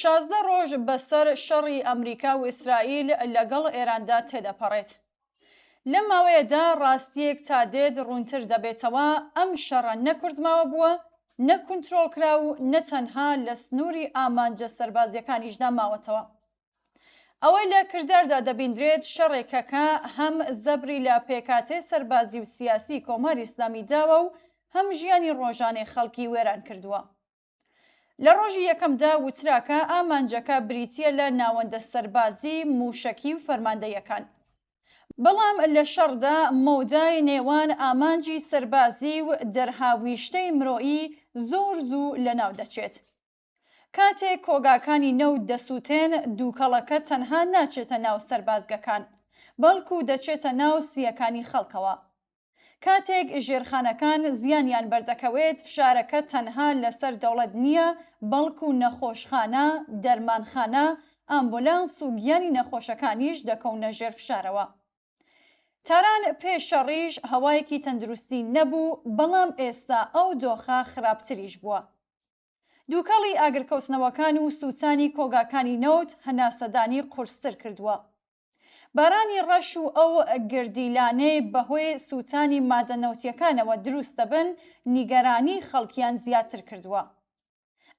شازدە ڕۆژ بەسەر شەڕی ئەمریکا و ئیسرائیل لەگەڵ ئێراندا تێدەپەڕێت. لەم ماوەیەدا ڕاستیەک تا دێت ڕوونتر دەبێتەوە ئەم شەڕە نە کوردماوە بووە، نە کونترۆڵ کرا و نە تەنها لە سنووری ئامانجە سەربازیەکانیشدا ماوەتەوە. ئەوەی لە کرداردا دەبیندرێت شەڕێکە کە هەم زەبری لە پێکاتێ سەربازی و سیاسی کۆماری ئیسلامی داوە و هەم ژیانی ڕۆژانەی خەڵکی وێران کردووە. لە ڕۆژی یەکەمدا وترا کە ئامانجەکە بریتییە لە ناوەندە سەربازی، مووشەکی و فەرماندەیەکان. بەڵام لە شەڕدا مەودای نێوان ئامانجی سەربازی و دەرهاویشتەی مرۆیی زۆر زوو لەناو دەچێت. کاتێک کۆگاکانی نەوت دەسووتێن، دووکەڵەکە تەنها ناچێتە ناو سەربازگەکان، بەڵکو دەچێتە ناو سییەکانی خەڵکەوە. کاتێک ژێرخانەکان زیانیان بەردەکەوێت، فشارەکە تەنها لەسەر دەوڵەت نییە، بەڵکو نەخۆشخانە، دەرمانخانە، ئامبولانس و گیانی نەخۆشەکانیش دەکەونە ژێر فشارەوە. تاران پێش شەڕیش هەوایەکی تەندروستی نەبوو، بەڵام ئێستا ئەو دۆخە خراپتریش بووە. دووکەڵی ئاگرکەوتنەوەکان و سووتانی کۆگاکانی نەوت هەناسەدانی قورستر کردووە. بارانی ڕەش و ئەو گردیلانەی بەهۆی سووتانی مادە نەوتییەکانەوە دروست دەبن، نیگەرانیی خەڵکیان زیاتر کردووە.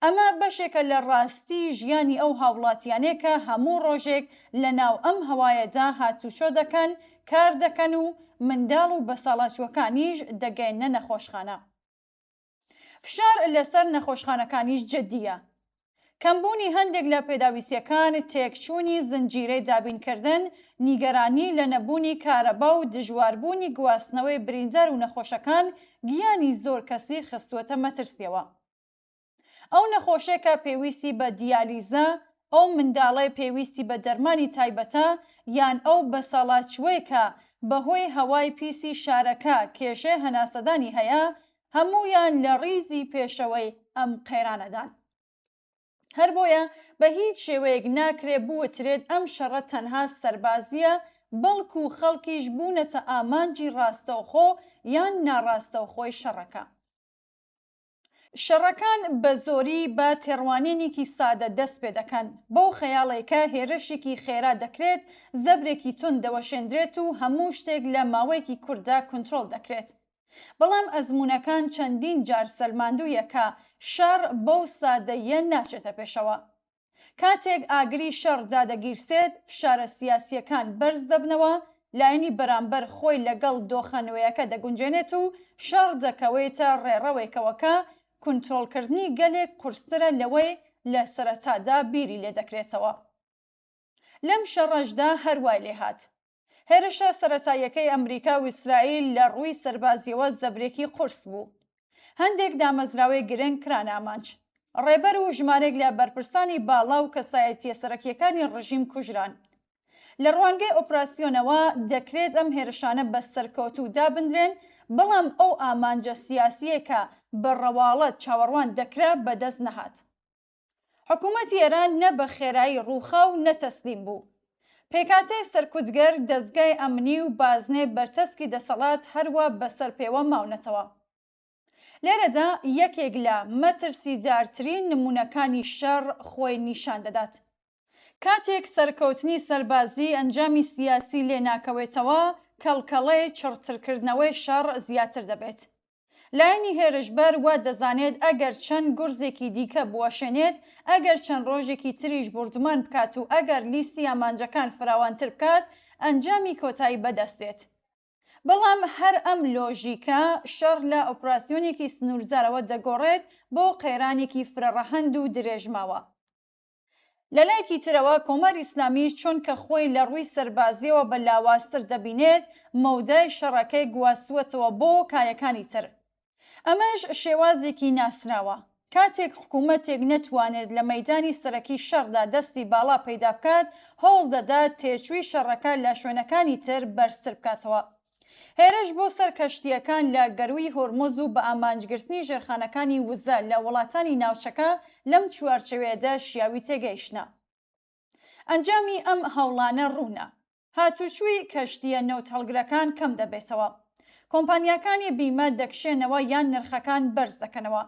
ئەمە بەشێکە لە ڕاستی ژیانی ئەو هاوڵاتییانەی کە هەموو ڕۆژێک لەناو ئەم هەوایەدا هاتوچۆ دەکەن، کار دەکەن و منداڵ و بەساڵاچووەکانیش دەگەیەننە نەخۆشخانە. فشار لەسەر نەخۆشخانەکانیش جدییە. کەمبوونی هەندێک لە پێداویستییەکان، تێکچوونی زنجیرەی دابینکردن، نیگەرانی لە نەبوونی کارەبا و دژواربوونی گواستنەوەی بریندار و نەخۆشەکان گیانی زۆر کەسی خستووەتە مەترسییەوە. ئەو نەخۆشەی کە پێویستی بە دیالیزە، ئەو منداڵەی پێویستی بە دەرمانی تایبەتە، یان ئەو بەساڵاچووەی کە بەهۆی هەوای پیسی شارەکە کێشەی هەناسەدانی هەیە، هەموویان لە ڕیزی پێشەوەی ئەم قەیرانەدان. هەر بۆیە بە هیچ شێوەیەک ناکرێ بوترێت ئەم شەڕە تەنها سەربازییە، بەڵکو خەڵکیش بوونەتە ئامانجی ڕاستەوخۆ یان ناڕاستەوخۆی شەڕەکە. شەڕەکان بە زۆری بە تێڕوانینیکی سادە دەست پێ دەکەن، بەو خەیاڵێکە هێرشێکی خێرا دەکرێت، زەبرێکی توند دەوەشێندرێت و هەموو شتێک لە ماوەیەکی کورتدا کونترۆڵ دەکرێت. بەڵام ئەزموونەکان چەندین جار سەلماندوویە کە شەڕ بەو سادەییە ناچێتە پێشەوە. کاتێک ئاگری شەڕ دادەگیرسێت، فشارە سیاسییەکان بەرز دەبنەوە، لایەنی بەرامبەر خۆی لەگەڵ دۆخە نوێیەکە دەگونجێنێت و شەڕ دەکەوێتە ڕێڕەوێکەوە کە کونترۆڵکردنی گەلێک قورسترە لەوەی لە سەرەتادا بیری لێدەکرێتەوە. لەم شەڕەشدا هەر وای لێهات. هێرشە سەرەتاییەکەی ئەمریکا و ئیسرائیل لە ڕووی سەربازییەوە زەبرێکی قورس بوو. هەندێک دامەزراوەی گرنگ کران ئامانج. ڕێبەر و ژمارێک لە بەرپرسانی باڵا و کەسایەتییە سەرەکییەکانی ڕژیم کوژران. لە ڕوانگەی ئۆپراسیۆنەوە، دەکرێت ئەم هێرشانە بە سەرکەوتوو دابندرێن، بەڵام ئەو ئامانجە سیاسییەی کە بە ڕەواڵەت چاوەڕوان دەکرا بەدەست نەهات. حکوومەتی ئێران نە بە خێرایی ڕووخا و نە تەسلیم بوو. پێکهاتەی سەرکوتگەر، دەزگای ئەمنی و بازنەی بەرتەسکی دەسەڵات هەروا بەسەر پێوە ماونەتەوە. لێرەدا یەکێک لە مەترسیدارترین نموونەکانی شەڕ خۆی نیشان دەدات. کاتێک سەرکەوتنی سەربازی ئەنجامی سیاسی لێ ناکەوێتەوە، کەڵکەڵەی چڕترکردنەوەی شەڕ زیاتر دەبێت. لایەنی هێرشبەر وا دەزانێت ئەگەر چەند گورزێکی دیکە بوەشێنێت، ئەگەر چەند ڕۆژێکی تریش بوردومان بکات و ئەگەر لیستی ئامانجەکان فراوانتر بکات، ئەنجامی کۆتایی بەدەست دێت. بەڵام هەر ئەم لۆژیکە، شەڕ لە ئۆپراسیۆنێکی سنوورزارەوە دەگۆڕێت بۆ قەیرانێکی فرەڕەهەند و درێژماوە. لەلایەکی ترەوە کۆماری ئیسلامی چۆنکە خۆی لە ڕووی سەربازیەوە بە لاوازتر دەبینێت مەودای شەڕەکەی گواستووەتەوە بۆ کایەکانی تر ئەمەش شێوازێکی ناسراوە کاتێک حکوومەتێک نەتوانێت لە مەدانی سەرەکی شەڕدا دەستی باڵا پەیدا بکات هەوڵ دەدات تێچووی شەڕەکە لە شوێنەکانی تر بەرزتر بکاتەوە هێرش بۆ سەر کەشتییەکان لە گەرووی هۆرمۆز و بە ئامانجگرتنی ژێرخانەکانی وزە لە وڵاتانی ناوچەکە لەم چوارچێوەیەدا شیاوی تێگەیشتنە. ئەنجامی ئەم هەوڵانە ڕوونە. هاتوچووی کەشتییە نەوتهەڵگرەکان کەم دەبێتەوە. کۆمپانیاکانی بیمە دەکشێنەوە یان نرخەکان بەرز دەکەنەوە.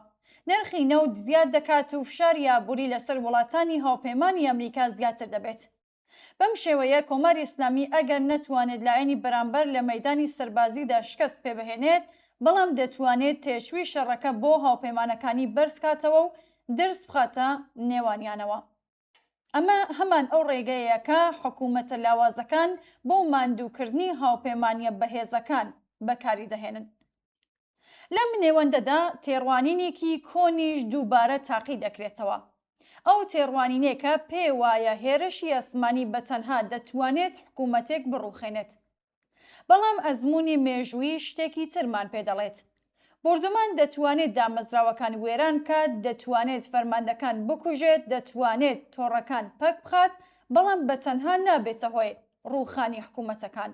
نرخی نەوت زیاد دەکات و فشاری ئابووری لەسەر وڵاتانی هاوپەیمانی ئەمریکا زیاتر دەبێت. بەم شێوەیە کۆماری ئیسلامی ئەگەر نەتوانێت لایەنی بەرامبەر لە مەیدانی سەربازیدا شکەست پێبهێنێت، بەڵام دەتوانێت تێچووی شەڕەکە بۆ هاوپەیمانەکانی بەرزکاتەوە و درز بخاتە نێوانیانەوە. ئەمە هەمان ئەو ڕێگەیەیە کە حکوومەتە لاوازەکان بۆ ماندووکردنی هاوپەیمانییە بەهێزەکان بەکاریدەهێنن. لەم نێوەندەدا تێڕوانینێکی کۆنیش دووبارە تاقی دەکرێتەوە. ئەو تێڕوانینێکە پێێ وایە هێرشی ئاسمانی بە تەنها دەتوانێت حکوومەتێک بڕووخێنێت. بەڵام ئەزموونی مێژوویی شتێکی ترمان پێ دەڵێت. بۆردومان دەتوانێت دامەزراوەکان وێران بکات، دەتوانێت فەرماندەکان بکوژێت، دەتوانێت تۆڕەکان پەک بخات، بەڵام بە تەنها نابێتە هۆی ڕووخانی حکوومەتەکان.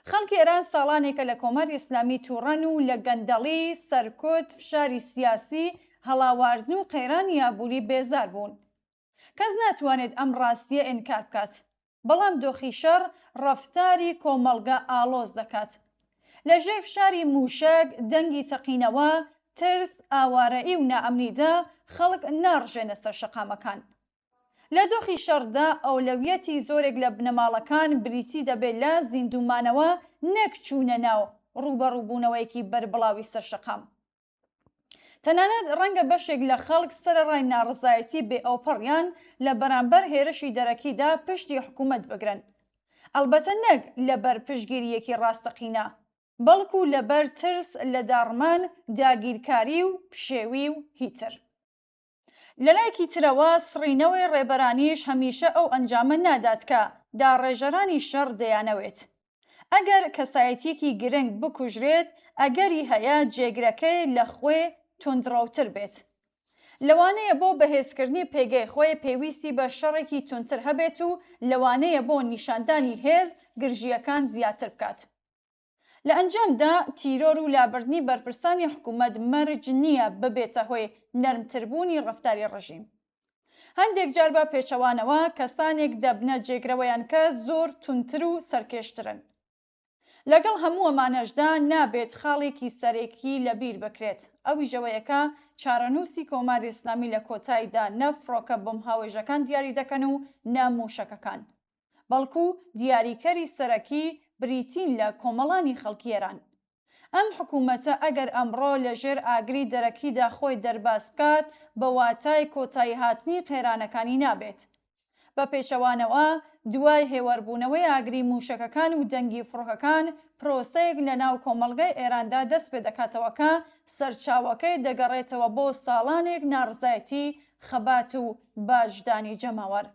خەڵکی ئێران ساڵانێکە لە کۆماری ئیسلامی تووڕەن و لە گەندەڵی، سەرکوت، فشاری سیاسی، هەڵاواردن و قەیرانی ئابووری بێزار بوون. کەس ناتوانێت ئەم ڕاستییە ئینکار بکات. بەڵام دۆخی شەڕ ڕەفتاری کۆمەڵگە ئاڵۆز دەکات. لە ژێر فشاری مووشەک، دەنگی تەقینەوە، ترس، ئاوارەیی و نائەمنیدا خەڵک ناڕژێنە سەر شەقامەکان. لە دۆخی شەڕدا ئەولەویەتی زۆرێک لە بنەماڵەکان بریتی دەبێت لە زیندوومانەوە نەک چوونە ناو ڕووبەڕووبوونەوەیەکی بەربڵاوی سەرشەقام. تەنانەت ڕەنگە بەشێک لە خەڵک سەرەڕای ناڕەزایەتی بێ ئەوپەڕیان لە بەرامبەر هێرشی دەرەکیدا پشتی حکوومەت بگرن. ئەڵبەتە نەک لەبەر پشتگیرییەکی ڕاستەقینە، بەڵکوو لەبەر ترس لە داڕمان، داگیرکاری و پشێوی و هیتر. لەلایەکی ترەوە سڕینەوەی ڕێبەرانیش هەمیشە ئەو ئەنجامە نادات کە داڕێژەرانی شەڕ دەیانەوێت. ئەگەر کەسایەتیەکی گرنگ بکوژرێت ئەگەری هەیە جێگرەکەی لە خۆێ توندڕەوتر بێت. لەوانەیە بۆ بەهێزکردنی پێگەی خۆێ پێویستی بە شەڕێکی توندتر هەبێت و لەوانەیە بۆ نیشاندانی هێز گرژییەکان زیاتر بکات. لە ئەنجامدا تیرۆر و لابردنی بەرپرسانی حکوومەت مەرج نییە ببێتە هۆی نەرمتربوونی ڕەفتاری ڕژیم. هەندێک جار بە پێچەوانەوە کەسانێک دەبنە جێگرەوەیان کە زۆر توندتر و سەرکێشترن. لەگەڵ هەموو ئەمانەشدا نابێت خاڵێکی سەرەکی لەبیر بکرێت، ئەویش ئەوەیە کە چارەنووسی کۆماری ئیسلامی لە کۆتاییدا نە فڕۆکە بۆمبهاوێژەکان دیاری دەکەن و نە مووشەکەکان. بەڵکو دیاریکەری سەرەکی بریتین لە کۆمەڵانی خەڵکی ئێران. ئەم حکوومەتە ئەگەر ئەمڕۆ لە ژێر ئاگری دەرەکیدا خۆی دەرباز بکات بە واتای کۆتایی هاتنی قەیرانەکانی نابێت. بە پێچەوانەوە دوای هێوەربوونەوەی ئاگری مووشەکەکان و دەنگی فڕۆکەکان پرۆسەیەک لە ناو کۆمەڵگای ئێراندا دەست پێ دەکاتەوە کە سەرچاوەکەی دەگەڕێتەوە بۆ ساڵانێک ناڕزایەتی، خەبات و باجدانی جەماوەر.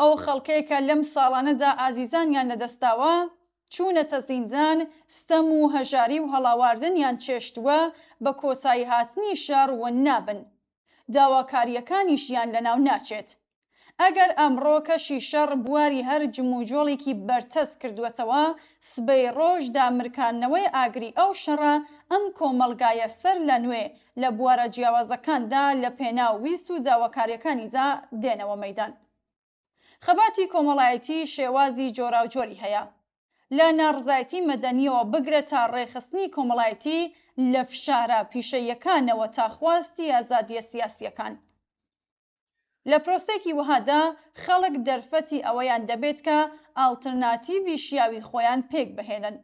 ئەو خەڵکەی کە لەم ساڵانەدا ئازیزانیان لەدەستداوە، چوونەتە زیندان، ستەم و هەژاری و هەڵاواردنیان چێشتووە، بە کۆتاییهاتنی شەڕ ون نابن. داواکارییەکانیشیان لەناو ناچێت. ئەگەر ئەمڕۆ کەشی شەڕ بواری هەر جموجۆڵێکی بەرتەسک کردووەتەوە، سبەی ڕۆژ دامرکاندنەوەی ئاگری ئەو شەڕە ئەم کۆمەڵگایە سەرلەنوێ لە بوارە جیاوازەکاندا لە پێناو ویست و داواکاریەکانیدا دێنەوە مەیدان. خەباتی کۆمەڵایەتی شێوازی جۆراوجۆری هەیە، لە ناڕزایەتی مەدەنیەوە بگرە تا ڕێکخستنی کۆمەڵایەتی لە فشارە پیشەییەکانەوە تا خواستی ئازادیە سیاسیەکان. لە پرۆسەیەکی وەهادا خەڵک دەرفەتی ئەوەیان دەبێت کە ئاڵترناتیڤی شیاوی خۆیان پێکبهێنن.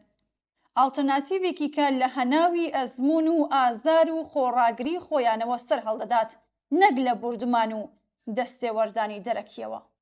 ئاڵترناتیڤێکی کە لە هەناوی ئەزموون و ئازار و خۆڕاگری خۆیانەوە سەرهەڵدەدات، نەک لە بوردمان و دەستێوەردانی دەرەکییەوە.